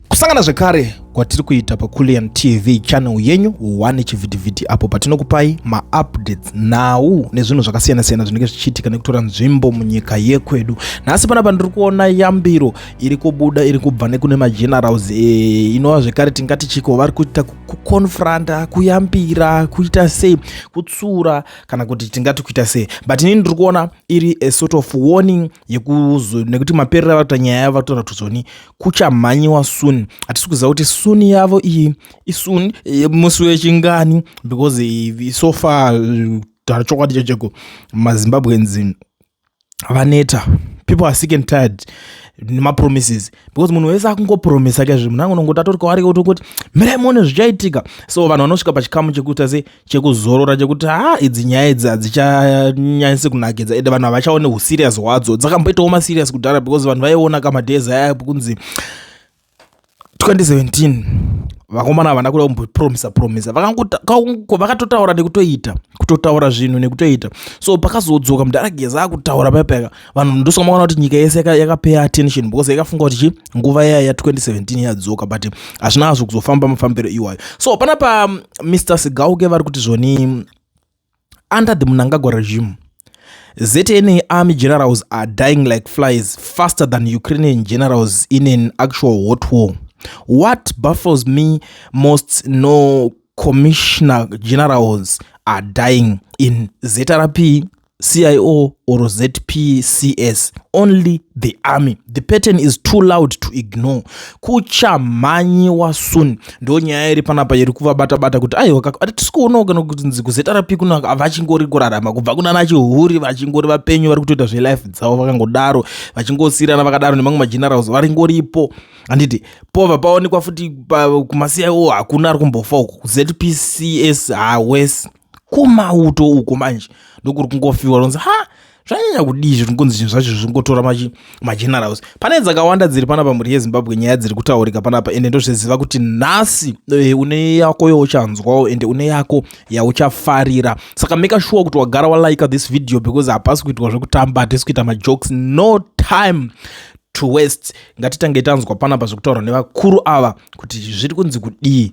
kusangana zvekare kwatiri kuita pakulian tv channel yenyu one chivhitivhiti apo patinokupai maupdates nhau nezvinhu zvakasiyana-siyana zvinenge zvichiitika nekutora nzvimbo munyika yekwedu nhasi panapa ndiri kuona yambiro iri kubuda iri kubva nekune magenerals e, inova zvekare tingati chiko vari kuita kuconfronta kuyambira kuita sei kutsura kana kuti tingati kuita sei but inini ndiri kuona iri a sort of warning yekuzo nekuti maperera vatoita nyaya yavo vatotaura kuti zoni kuchamhanyiwa soon hatisi kuziva kuti soon yavo iyi isoon musi wechingani because so far taura chokwadi chacheko mazimbabweans vaneta people are sick and tired nemapromises because munhu wese akungopromisa kezve munhu angonongoti atori kwaari kuti kuti mirai muone zvichaitika so vanhu vanosvika pachikamu chekuita sei chekuzorora chekuti ha idzi nyaya idzi hadzichanyanyisi kunakidza ende vanhu havachaone userious hwadzo dzakamboitawo maserious kudhara because vanhu vaiona kamadhezi aya kunzi 2017 vakomana havana kuda kumbopromisa promisa vakatotaura nekutoita kutotaura zvinhu nekutoita so pakazodzoka mudhara geza akutaura payapayaka vanhu ndosaka makaona kuti nyika yese yakapaya attention because yakafunga kuti chi nguva yaya ya 2017 yadzoka but hazvina hazvo kuzofamba mafambiro iwayo so pana pa mr um, sigauke vari kuti zvoni under the munangagwa regime ZNA army generals are dying like flies faster than Ukrainian generals in an actual hot war. What baffles me most no commissioner generals are dying in ZRP CIO or ZPCS, only the army. The pattern is too loud to ignore. Kuchamhanyiwa soon. Ndo nyaya iri panapa iri kuvabata bata kuti aiwa tisi kuonawo kana kuti kuZRP kuno havachingori kurarama kubva kuna nachihuri vachingori vapenyu vari kutoita zvelife dzavo vakangodaro vachingosirana vakadaro nemamwe magenerals vari ngoripo handiti pova paonekwa futi kumaCIO hakuna ari kumbofa uku ZPCS hawes kumauto uko manje ndokuri kungofiwa ronzi ha zvanyanya kudii izvi kungonzi zvinhu zvacho zvingotora magenerals pane dzakawanda dziri panapa mhuri yezimbabwe nyaya dziri kutaurika panapa ende ndozviziva kuti nhasi eh, une yako youchanzwawo ende une yako yauchafarira saka make sure kuti wagara walike this video because hapasi kuitwa zvekutamba hatisi kuita majokes no time to west ngatitange tanzwa panapa zvekutaurwa nevakuru ava kuti zviri kunzi kudii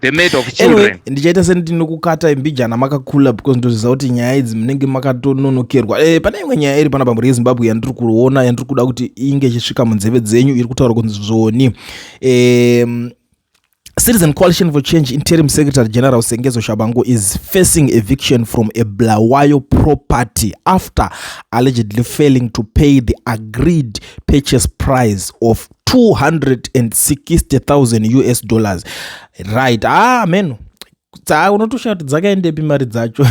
the mate of children anyway, ndichaita sendinokukata imbijana makakula because ndoziva kuti nyaya idzi munenge makatononokerwa e, pane imwe nyaya iri pana bamhuri yezimbabwe yandiri kuona yandiri kuda kuti inge ichisvika munzeve dzenyu iri kutaura kunzi zvoni e, Citizen Coalition for Change Interim Secretary General Sengezo Shabango is facing eviction from a Blawayo property after allegedly failing to pay the agreed purchase price of 260,000 us dollars right ah meno unotoshaya kuti dzakaendepi mari dzacho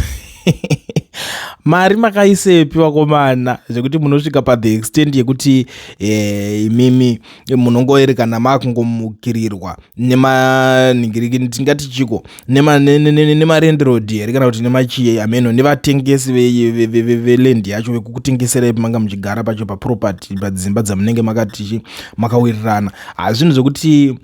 mari makaisepi vakomana zvekuti munosvika pathe extent yekuti eh, imimi munongoerekana makungomukirirwa nemanhingiriki tingati chiko nemarendiroad here kana kuti nemachie ameno nevatengesi velendi yacho vekukutengeserai pamanga muchigara pacho paproperty padzimba dzamunenge makati makawirirana hazvinhu zvekuti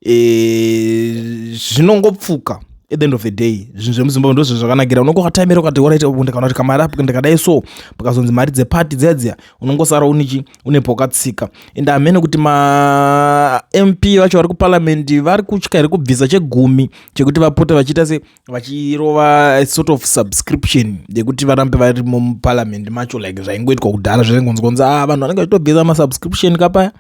eh, zvinongopfuka e, at the end of the day zvinhu zvemuzimbabwe ndozvo zvakanakira unongokatamira ukati oraita ndikana kuti kamari apo ndikadai so pakazonzi mari dzepati dziya dziya unongosara unichi une pokatsika and hamene kuti mamp vacho vari kuparliamendi vari kutya here kubvisa chegumi chekuti vapote vachiita se vachirova sort of subscription yekuti varambe vari muparliamendi macho like zvaingoitwa kudhara zvaingonzwanzi a ah, vanhu vanenge vachitobvisa masubscription kapaya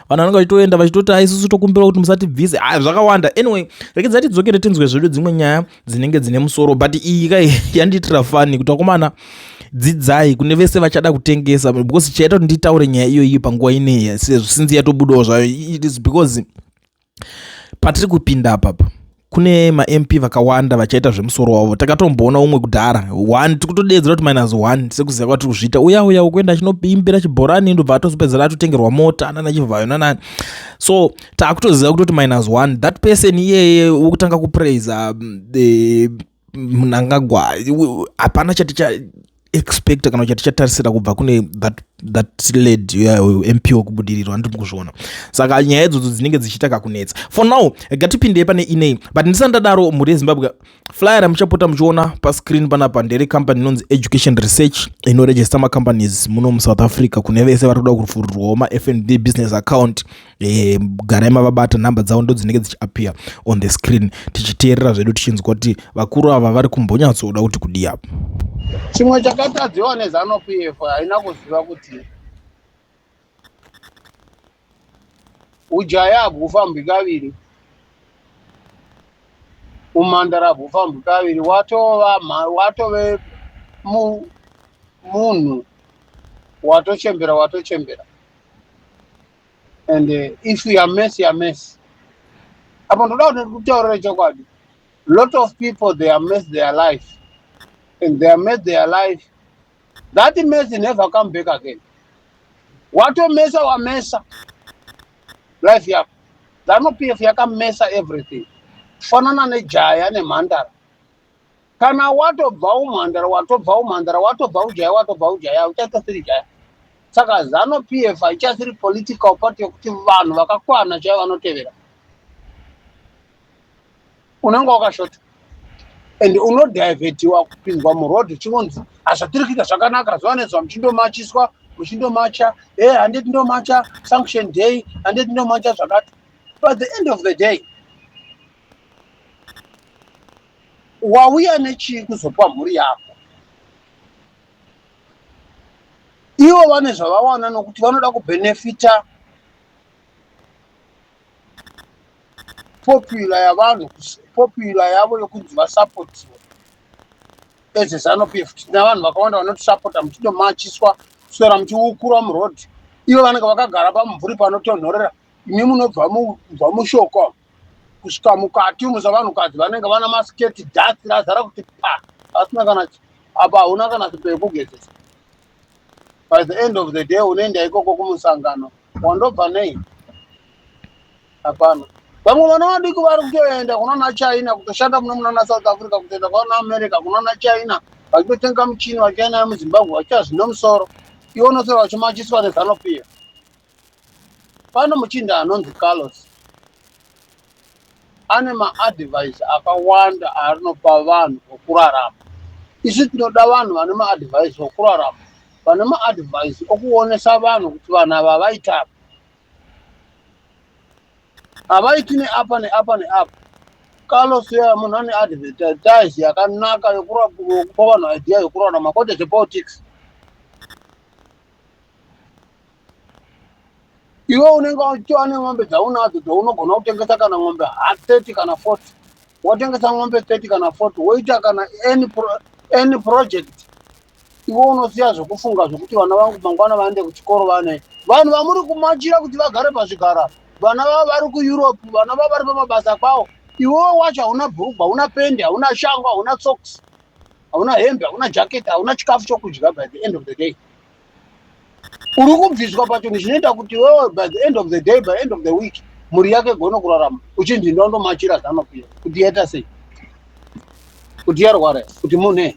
vanhu vanenge vachitoenda vachitoti aisusu ah, tokumbira kuti musatibvise a ah, zvakawanda anyway rekedza tidzokere tinzwe zvedu dzimwe nyaya dzinenge dzine musoro but iyi kai yandiitira fani kuti vakomana dzidzai kune vese vachada kutengesa because chaita kuti nditaure nyaya iyoyi panguva ineyi sezvo sinzi yatobudawo zvayo it is because patiri kupinda apapa kune mamp vakawanda vachaita zvemusoro wavo takatomboona umwe kudhara one tiri kutodeedzera kuti minus one sekuziva kwatiri kuzviita uya uya ukuenda achinoimbira chibhorani ndobva atozopedzera atotengerwa mota nana chivhayo nanani so taakutoziva kutoti minus one that person iyeye wokutanga kupraiser mm, eh, mnangagwa hapana chati cha expecta kana chati chatarisira kubva kune that, that led mp wokubudiriro andiri mukuzviona saka nyaya idzodzo dzinenge dzichiita kakunetsa for now gatipindei pane inei but ndisandadaro mhuri yezimbabwe flyer ramuchapota muchiona pascreen panapa ndere company inonzi education research inoregista macompanies muno musouth africa kune vese vari kuda kuvhururwawo mafnb business account e, garai mavabata nhamba dzavo ndo dzinenge dzichiappear on the screen tichiteerera zvedu tichinzwa kuti vakuru ava vari kumbonyatsoda kuti kudii apo chimwe chakatadziwa nezanupf haina kuziva kuti Ujaya habwufambwi kaviri, umhandara habwufambwi kaviri, watova watove mu, munhu watochembera watochembera and uh, if you are mess you are mess apo ndoda kuti kutaurira chokwadi lot of people they are mess their life and they are mess their life That mess never come back again. Watomesa wamesa life yako. Zanu PF yakamesa everything. Kufanana nejaya nemhandara. Kana watobva umhandara, watobva umhandara, watobva ujaya, watobva ujaya, uchatosiri jaya. Saka Zanu PF haichasiri political party yokuti vanhu vakakwana chaivo vanotevera. unenge wakashota and unodivhetiwa kupinzwa muroad uchingonzi hazvatirikika zvakanaka zuva nezuva muchindomachiswa muchindomacha e eh, handiti ndomacha sanction day handiti ndomacha zvakati but the end of the day wauya nechii kuzopa mhuri yako ivo vane zvavawana nokuti vanoda kubhenefita popular yavanhu popular yavo yokunzi vasapotiwa as a zanu pf tina vanhu vakawanda vanotisapota muchidomachiswa kuswera muchiukura muroad ivo vanenge vakagara pamumvuri panotonhorera imi munobva mubva mushoko kusvika mukati umu savanhukadzi vanenge vana masiketi dhasi razara kuti pa asina kana apa hauna kana sipo yekugezesa by the end of the day unoenda ikoko kumusangano wandobva nei hapana vamwe vana vadiki vari kutoenda kunana china kutoshanda muno munana south africa kutoenda kwana america kunana china vachitotenga muchini vachienda muzimbabwe vachita zvine musoro ivo nosora vachimachiswa nezanopiya Pano muchinda anonzi Carlos ane maadvice akawanda aanopa vanhu okurarama. Isu tinoda vanhu vane maadvice okurarama, vane maadvice okuonesa vanhu kuti vanhu ava vaita apa. Havaiti neapa neapa neapa. Carlos uya munhu ane advertise yakanaka yokupa vanhu idea yokurarama kwete zvepolitics. iwe unenge uchitova nemombe dzaunadzo dzaunogona kutengesa kana mombe ha 30 kana 40 wotengesa mombe 30 kana 40 woita kana any, pro, any project iwe unosiya zvekufunga zvekuti vana vangu mangwana vaende kuchikoro vane vanhu vamuri kumachira kuti vagare pazvigara vana vavo vari kueurope vana vavo vari pamabasa kwavo iwewo wacho hauna bhurugwa hauna pendi hauna shango hauna socks hauna hembe hauna jacket hauna chikafu chokudya by the end of the day uri kubviswa pachinhu chinoita kuti wewe by the end of the day by end of the week mhuri yake gono kurarama uchinzi ndondomachira zanokuya kuti yaita sei kuti yarwara kuti munei